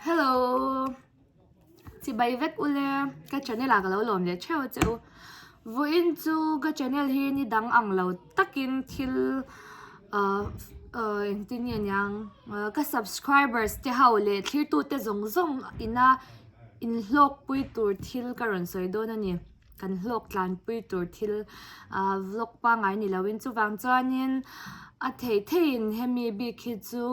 Hello Chi bai vek u le Ka channel ah ka lo lawm ve theu che u Vuin chu ka channel hi ni dang ang lo takin thil uh, uh, Eng tin nge niang uh, Ka subscribers te hau le thlir tu te zong zong ina In hlawk pui tur thil ka rawn sawi dawn a ni kan hlawk tlanpui tur thil ah vlog pangai ni lo in chuvang chuan in a thei thei in hemi bik hi chu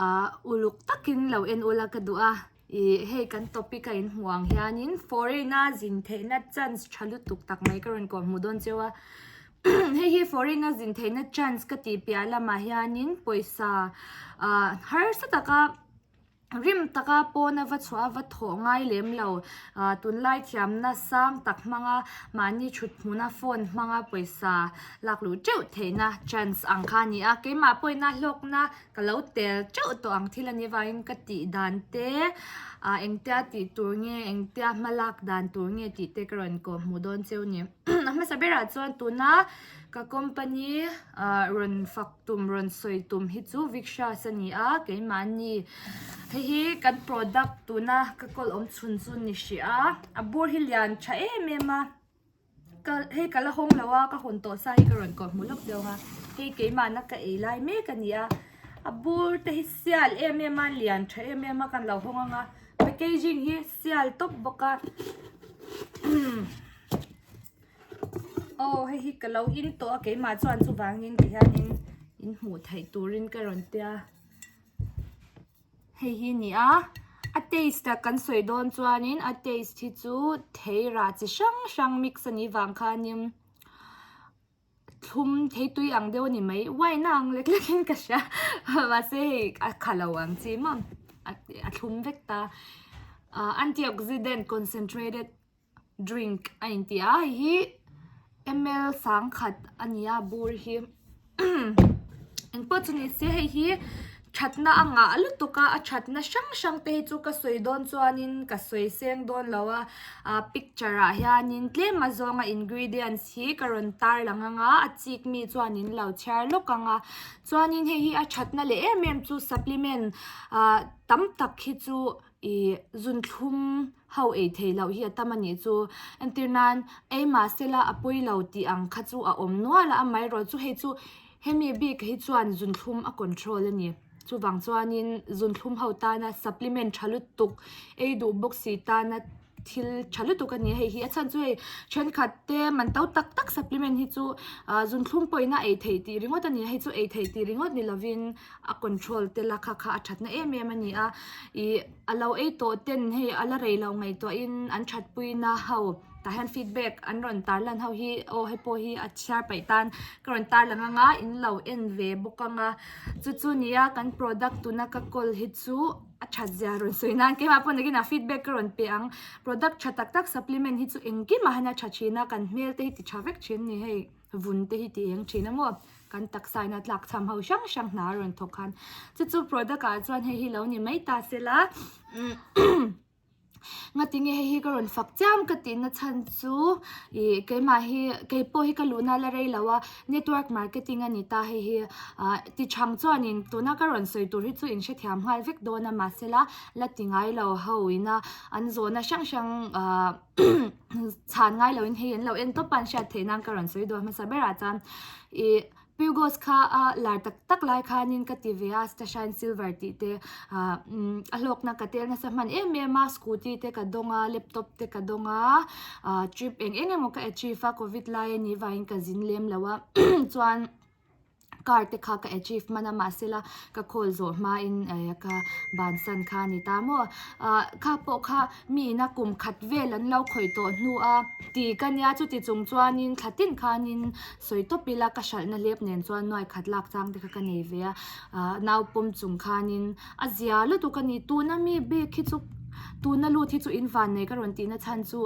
ah uluk tak in lo en ula ka duh a ih hei kan topic a in hmuh ang hian in foreign a zin theih na chance tha lutuk tak mai ka rawn kawh hmuh dawn cheu a hei hi foreign a zin theih na chance ka tih piah lamah hian in pawisa ah harsa taka Rim taka pawna va chhuah a va thawh ngai lem lo. Ahh tunlai thiamna sang tak hmanga mahni thut hmuna phone hmanga pawisa lak luh teuh theihna chance ang kha a ni a. Keimah pawina hlawkna ka lo tel teuh tawh ang thil a ni avangin ka tih dan te ahh engtia tih tur nge engtia hma lak dan tur nge tih te ka rawn inkoh hmuh dawn cheu a ni. Ahh hmasa berah chuan tuna ka company ahh rawn fak-- Tum rawn sawi tum hi chu Viksha's a ni a, keimahni hei hi kan product tuna ka kawlawm chhun chu ni hria a, a bur hi lian tha em em a, ka hei ka la hawng lo a, ka hawn tawh sa hi ka rawn kawr hmu lawk dawnga hei keimahna ka ei lai mek a ni a, a bur te hi sial em em a, lian tha em em a, kan lo hawng ang a, packaging hi sial tawp bawk a. Aw hei hi ka lo in tawh a keimah chuan chuvangin ti hian in in hmuh theih turin ka rawn tia hei hi ni a a taste a kan sawi dawn chuanin a taste hi chu thei rah chi hrang hrang mix a nih vang khanin thlum thei tui ang deuh a ni mai uaina ang lek lek in ka hria mahse hei a kha lo ang chi maw a thlum vek ta antioxidant concentrated -- drink a inti a hei hi ml sang khat a ni a bur hi engpawh chu ni se hei hi thatna a ngah lutuk a a thatna hrang hrang te hi chu ka sawi dawn chuan in ka sawi seng dawn lo a ah picture ah hian in tlem a zawng a ingredients hi ka rawn tar lang ang a a chik mi chuan in lo chhiar lawk ang a chuan in hei hi a thatna leh em em chu supplement ah tam tak hi chu ih zun thlum-- Ho ei theih loh hi a tam a nih chu. Entir nan, ei mahse la a pawi lo tih ang kha chu a awm nual a, amaherawh chu hei chu hemi bik hi chuan zunthlum a control a ni. Chuvang chuanin zunthlum ho tana supplement tha lutuk, ei duh bawk si tana thil tha lutuk a ni a, hei hi a chhan chu hei thenkhat te man to tak tak supplement hi chu aah zunthlum pawina ei theih tih ringawt a ni a, hei chu ei theih tih ringawt ni lovin. a control tel a kha kha a that na em em a ni a ih a lo ei tawh ten hei a la rei lo ngei tawh in an that pui na ho tah hian feedback an rawn tar lan ho hi aw hei pawh hi a chhiar paih tan ka rawn tar lang anga in lo en ve bawk anga chu chu ni a kan product tuna ka call hi chu a that zia rawn sawi nan kema pawn takin a feedback ka rawn pe ang product tha tak tak supplement hi chu engkim ah hian a tha thin a kan hmel te hi ti tha vek thin a ni hei. vun te hi ti eng thin a maw? Kan taksa ina tlak chham ho hrang hrang hna a rawn thawk khan. Chu chu product ah chuan hei hi lo ni mai ta se la ngati nge hei hi ka rawn fak chiam ka tihna chhan chu ih keimah hi kei pawh hi ka luhna la rei lo a network marketing a ni ta hei hi ah ti chhang chuan in tuna ka rawn sawi tur hi chu in hrethiam nghal vek dawn a mahsela la ti ngai lo ho ina an zawhna hrang hrang ah chhan ngai lo in hei an lo en tawp a an hriat theih nan ka rawn sawi dua hmasa berah chuan ih pugos kha a lar tak tak lai khanin ka ti ve a stashine silver tih te ah umm a hlawkna ka tel nasa hman em em a scooty te ka dawng a laptop te ka dawng a ah trip eng eng emaw ka achieve a covid lai a nih vangin ka zin lem lo a chuan-- car te kha ka achieve hman a mahse la ka call zawh hmain ehh ka bansan kha a ni ta maw ah kha pawh kha mi ina kum khat vel an lo khawih tawh hnu a ti ka nia chuti chung chuanin thla tin khanin sawi tawp ila ka hralhna hlep nen chuan nuai khat lak chang te kha ka nei ve a ah naupawm chung khanin a zia lutuk a nih tuna mi bag hi chu tuna lut hi chu in van nei ka rawn tihna chhan chu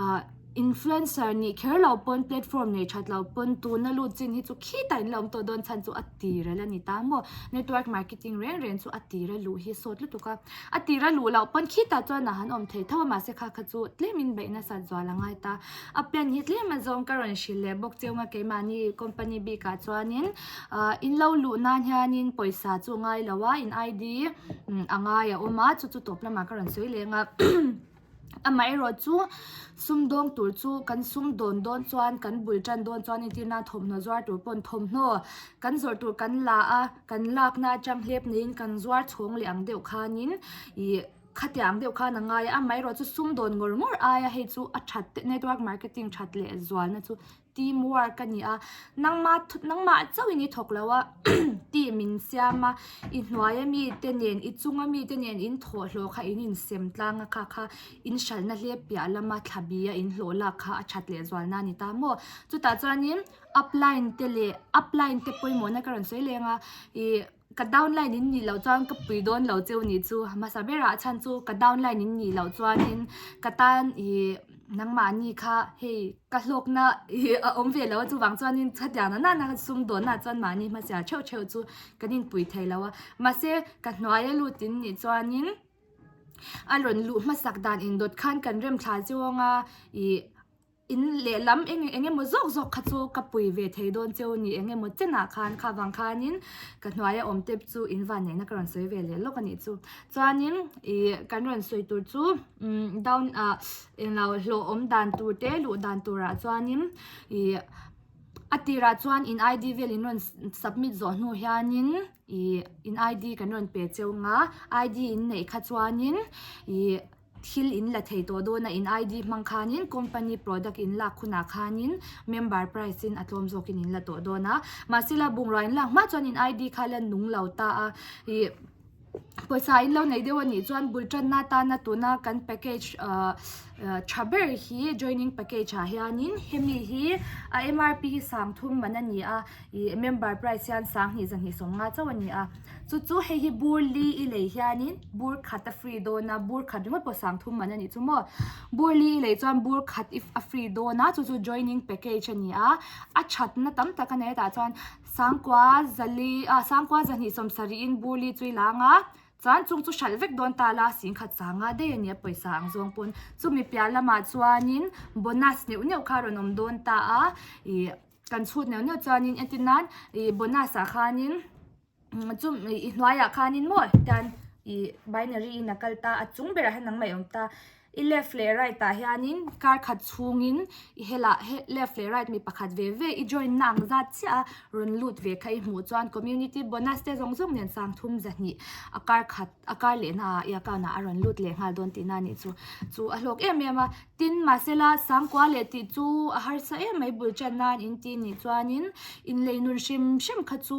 ah Influencer nih kher lo pawn platform nei that lo pawn tuna lut chin hi chu khitah in la awm tawh dawn chhan chu a tir a la ni ta maw? Network marketing reng reng chu a tir a luh hi sawt lutuk a. A tir a luh loh pawn khitah chuan a han awm thei tho a mahse kha kha chu tlem in beih nasat zual a ngai ta. A plan hi tlem a zawng ka rawn hrilh leh bawk cheu a keimahni company bik ah chuanin ahh in lo luh nan hianin pawisa chu a ngai lo a in ID a ngai a awm a chu chu tawp lamah ka rawn sawi leng a. Amah erawh chu sumdawng tur chu kan sumdawn dawn chuan kan bul tan dawn chuan a entirna thawmhnaw zuar tur pawn thawmhnaw kan zawrh tur kan la a kan lakna atang hlep niin kan zuar chhawng leh ang deuh khanin ih khatiang ang deuh khan a ngai a amaherawhchu sumdawn ngawr ngawr aia hei chu a that te network marketing that leh zualna chu-- Team work a ni a, nangma nangmah chauh in i thawk lo a, tih min siam a, i hnuaia mite nen, i chunga mite nen in thawhhlawh kha in insem tlang a kha kha in hralhna hle piah lama thlabia in hlawh lak kha a that lehzual na a ni ta maw. Chutah chuanin upline te leh upline te pawimawhna ka rawn sawi leng a, ih. Ka downline in nih loh chuan ka pui dawn lo che u nih chu hmasa berah a chhan chu ka downline in nih loh chuanin ka tan ih nangmahni kha hei ka hlawkna ih a awm ve lo a chuvang chuanin chutiang loh nana ka sum dawn nahah chuan mahni hmasa ṭheuh ṭheuh chu kan inpui thei lo a mahse ka hnuaia lut in nih chuanin a rawn luh hmasak dan in dawt khan kan remthla che awnga ih. In leh lam eng eng emaw zawk zawk kha chu ka pui ve thei dawn che u ni eng emaw chen ah khan kha vang khan in ka hnuai a awm tep chu in van nei na ka rawn sawi ve leh lawk a nih chu chuan in ih kan rawn sawi tur chu umm down ah eng lo hlawh awm dan tur te luh dan tur ah chuan in ih a tir ah chuan in I D vel in rawn submit zawh hnu hian in ih in I D kan rawn pe che ung a I D in neih kha chuan in ih Thil in la thei tawh dawn a in ID hmang khanin company product in lak hunah khanin member price in a tlawm zawk in in la tawh dawn a. Mahse la bungrua in lak hma chuan in ID kha la nung lo ta a. Ih pawisa in lo nei deuh a nih chuan bul tanna atana tuna kan package ahh tha ber hi joining package ah hianin hemi hi a MRP hi sangthum man a ni a. Ih member price hian sang hnih za hnih sawm nga chauh a ni a. Chu chu hei hi bur li i lei hianin bur khat a free dawn a, bur khat ringawt pawh sang thum man a nih chu maw. Bur li i lei chuan bur khat i a free dawn a, chu chu joining package a ni a. A thatna tam tak a nei a tah chuan sang kua za li ah sang kua za hnih sawm sarih in bur li chu i la ang a, chuan chung chu hralh vek dawn ta la sing khat sa nga daih a ni a pawisa ang zawng pawn. Chumi piah lamah chuanin bonus neuh neuh kha a rawn awm dawn ta a, ih. kan chhut neuh neuh chuanin entir nan ih bonus ah khanin chum i hnuaiah khanin maw hetian ih binary in a kal ta a chung berah hian nangmah a awm ta i left leh right ah hianin kar khat chhungin i helah he left leh right mi pakhat ve ve i join na ang zat chiah a rawn lut ve kha i hmuh chuan community bonus te zawng zawng nen sangthum zahnih a kar khat. A kar lehna ah Iakau na a rawn lut leh nghal dawn tihna anih chu chu a hlawk em em a. Tin, mahse la, sangkua leh tih chu a harsa em mai bul chan nan in ti nih chuanin inlei nun hrim hrim kha chu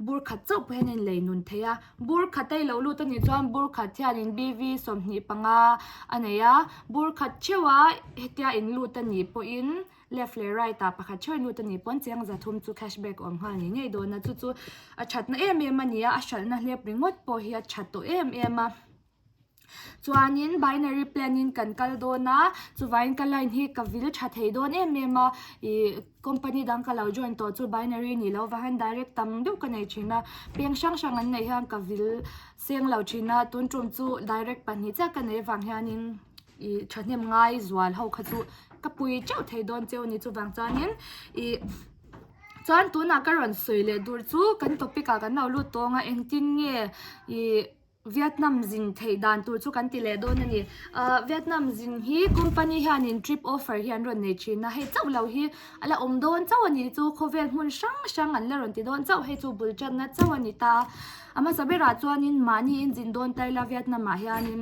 bur khat chauh pawh hian a inlei nun thei a. Bur khat a i lo lut anih chuan bur khat hianin BV sawmhnih panga a nei a. Bur khat theuh a hetia in lut anih pawhin. Left leh right ah pakhat ṭhawih nu te nih paw'n chiang za thum chu cash back awm nghal ni ngei dawn a. Chu chu a ṭhatna em em a ni a, a hralhna hlep ringawt pawh hi a ṭha tawh em em a. Chuanin binary plan in kan kal dawn a, chuvaiin ka line hi ka vil ṭha thei dawn em em a. Ih company dang ka lo join tawh chu binary nih loh vangin direct tam deuh ka nei ṭhin a. Peng hrang hrang an neih hian ka vil seng lo ṭhin a, tun ṭum chu direct pahnih chiah ka nei vang hianin, i thahnem ngai zual ho kha chu ka pui teuh thei dawn cheu a ni chuvang chuanin ih chuan tunah ka rawn sawi leh dur chu kan topic ah kan lo lut tawng a engtin nge ih vietnam zin theih dan tur chu kan ti leh dawn a ni ah vietnam zin hi company hianin trip offer hi an rawn nei thin a hei chauh lo hi a la awm dawn chauh a ni chu khawvel hmun hrang hrang an la rawn ti dawn chauh hei chu bul tana chauh a ni ta a hmasa berah chuanin mahni in zin dawn ta ila vietnam ah hianin.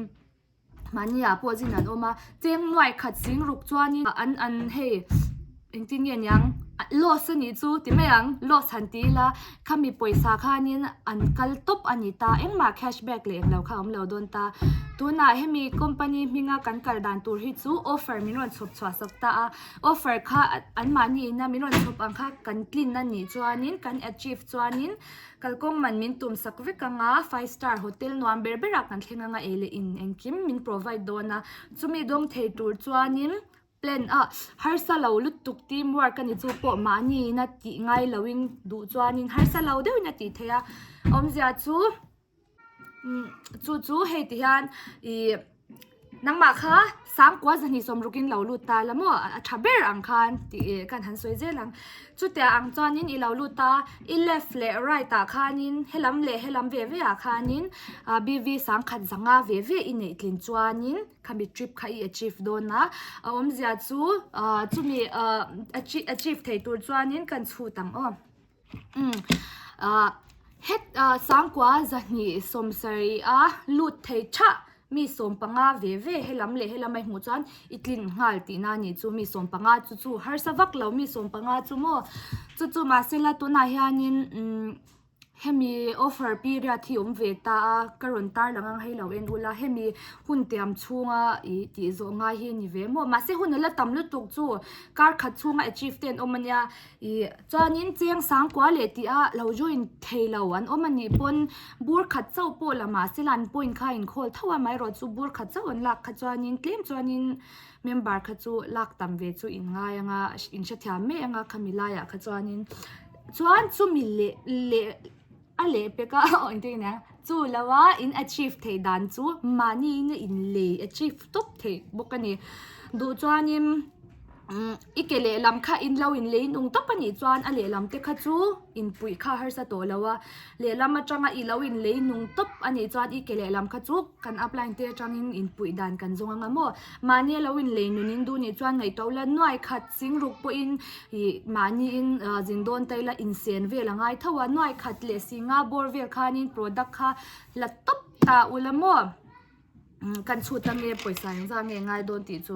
Mahniah pawh zin an awm a, cheng nuai khat sing ruk chuanin an an hei engtin nge niang loss a nih chu ti mai ang loss han ti ila khami pawisa khanin an kal tawp a ni ta engmah cash back leh englo kha a awm lo dawn ta tunah hemi company hminga kan kal dan tur hi chu offer min rawn chhawp chhuah sak ta a offer kha anmahni ina min rawn chhawp ang kha kan clean a nih chuanin kan achieve chuanin. Kalkawng man min tum sak vek ang a, five star hotel nuam ber berah kan thleng ang a, ei leh in engkim min provide dawn a, chumi dawng thei tur chuanin plan a harsa lo lutuk team work a ni chu pawh mahni ina tih ngai loin duh chuanin harsa lo deuhin a tih theih a awmzia chu-- Chu chu hei ti hian ih nangmah kha sangkua zahnih sawm rukin lo lut ta la maw a tha ber ang khan tih ih kan han sawi zel ang chutia ang chuanin i lo lut a i left leh right ah khanin helam leh helam ve ve ah khanin ah B_V sangkhat zanga ve ve i neih tlin chuanin khami trip kha i achieve dawn a a awmzia chu ah chumi ah achieve achieve thei tur chuanin kan chhut ang aw. Heta sangkua zahnih sawmsarihah a lut thei tha mi sawm panga ve ve helam leh helam aihmuh chuan i tlin nghal tihna a nih chu mi sawm panga chu chu harsa vak lo mi sawm panga chu maw chu chu mahse la tunah hianin hemi offer period hi awm ve ta a ka rawn tarlang ang hei lo en ula hemi hun tiam chhunga i tih zawh ngai hi a ni ve maw mahse hun a la tam lutuk chu kar khat chhunga achieve te an awm ania. I. Chuanin cheng sangkua leh tih a lo join thei lo an awm a nih pawn bur khat chauh pawh la mahse ila an point kha a inkhawl tho a, maherawh chu bur khat chauh an lak kha chuanin tlem chuanin member kha chu lak tam ve chu in ngai anga in hrethiam mek anga khami laiah kha chuanin chuan chumi leh leh. A leh pek a, aw engtin a nia, chu lo a in achieve theih dan chu mahniin a inlei achieve tawp theih bawk a ni. Duh chuanin i ke lehlam kha in lo inlei nung tawp anih chuan a lehlam te kha chu inpuih kha a harsa tawh lo a, lehlam atanga i lo inlei nung tawp anih chuan i ke lehlam kha chu kan upline te atangin inpuih dan kan zawng anga maw? Mahni a lo inlei nunin duh ni chuan ngaihtuah ula nuai khat. Singruk pawhin ih mahniin zin dawn ta ila insian vel a ngai tho a, nuai khat leh si nga bawr vel khanin product kha la tawp ta ula maw kan chhut a nge pawisa eng zang nge ngai dawn tih chu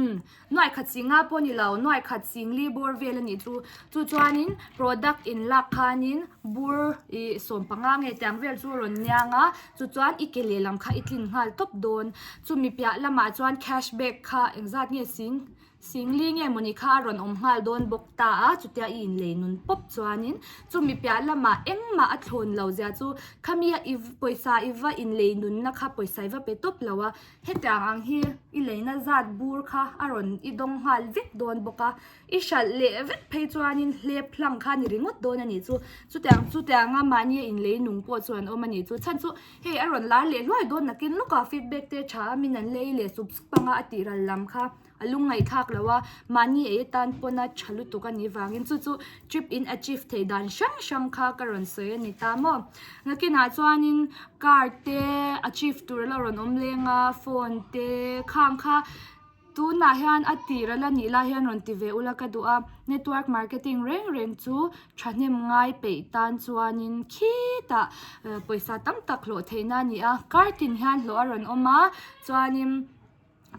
umm nuai khat si nga pawh nilo nuai khat singli bawr vel anih chu chu chuanin product in lak khanin bur ih sawm panga nge tiang vel chu a rawn niang a. Chu chuan i ke lehlam kha i tlin nghal tawp dawn. Chumi piah lamah chuan cash back kha engzat nge sing singli nge mawni kha a rawn awm nghal dawn bawk ta a, chutia i inlei nun pawp chuanin chumi piah lama engmah a thlawn lo zia chu khami a iv pawisa iva inlei nunna kha pawisa iva pe tawp lo a. Hetiang ang hi i leina zat bur kha a rawn i dawng nghal vek dawn bawk a. I hralh leh vek phei chuanin hlep hlang kha ni ringawt dawn a nih chu. Chutiang chutianga mahnia inlei nung pawh chu an awm a nih chu. Chhan chu hei a rawn lar leh hluai dawn nakin lawkah feedback te tha min an lei leh sup sup anga a tihral lam kha a lung ngaihthlak loh a, mahni ei atan pawna tha lutuk a nih vangin chu chu trip in achieve theih dan hrang hrang kha ka rawn sawi a ni ta maw. Nakinah chuanin car te achieve tur a lo rawn awm leng a, phone te khang kha Tunah hian a tih rel a nih lai hian rawn ti ve ula ka duh a, network marketing reng reng chu thahnem ngai peih tan chuanin khitah pawisa tam tak hlawh theihna a ni a, kartin hian hlawh a rawn awm a chuanin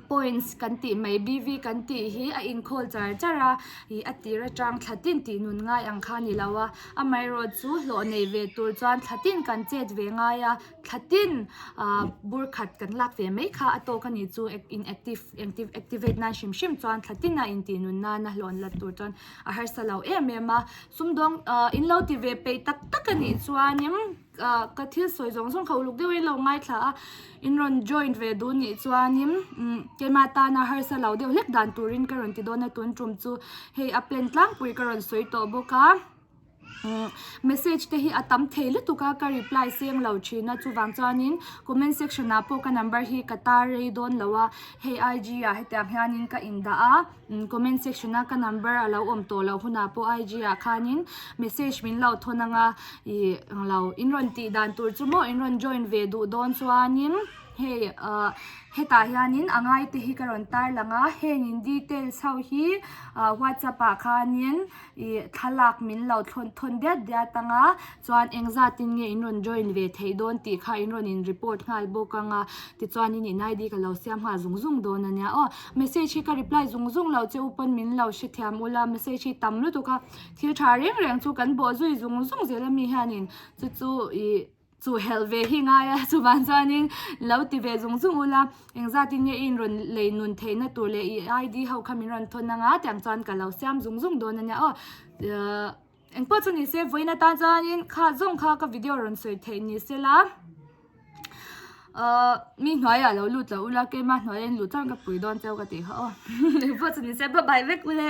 points kan tih mai BV kan tih hi a inkhâwl char char a ih a tîr aṭang thla tin tih nun ngai ang kha a ni lo a, amaherawhchu hlawh nei ve tûr chuan thla tin kan chêt ve ngai a. thlatin bur khat kan lak ve mai kha a tawk a nih chu inactive activate nan hrim hrim chuan thlatin a intih nun nan a hlawn la tur chuan a harsa lo em em a sumdawng in lo ti ve peih tak tak a nih chuanin ka thil sawi zawng zawng kha uluk deuh in lo ngaithla a in rawn join ve dun nih chuanin kema tana harsa lo deuh hlek dan turin ka rawn ti dawn a tun tum chu hei a plan tlangpui ka rawn sawi tawh bawk a. Message te hi a tam thei lutuk a, ka reply seng lo thin a, chuvang chuanin comment section ah pawh ka number hi ka tar rei dawn lo a, hei IG ah hetiang hianin ka in dah a, comment section a ka number a lo awm tawh loh hunah pawh IG ah khanin message min lo thawn ang a, ih ang lo, in rawn tih dan tur chu maw in rawn join ve duh dawn chuanin hei ah hetah hianin a ngai te hi ka rawn tarlang a, heng in details ho hi ah whatsapp ah khanin. ih thlalak min lo thawn thawn diat diat ang a chuan eng zat in nge in rawn join ve theih dawn tih kha in rawn in report nghal bawk ang a tichuan in in id ka lo siam nghal zung zung dawn a nia aw message hi ka reply zung zung lo che u pawn min lo hrethiam u la message hi tam lutuk a thil tha reng reng chu kan bawh zui zung zung zel ami hian in chu chu ih-- chu helh ve hi ngai a chuvang chuanin lo ti ve zung zung ula engzat in nge in rawn lei nun theih na tur leh i ID ho kha min rawn thawn anga tiang chuan ka lo siam zung zung dawn ania aw uhh eng pawh chu ni se vawiin atan chuanin kha zawng kha ka video rawn sawi theih ni se la uhh mi hnuai ah lo lut loh ula keima hnuai ah in luh chuan ka pui dawn cheu ka ti kha aw eng pawh chu ni se bye bye vek ule.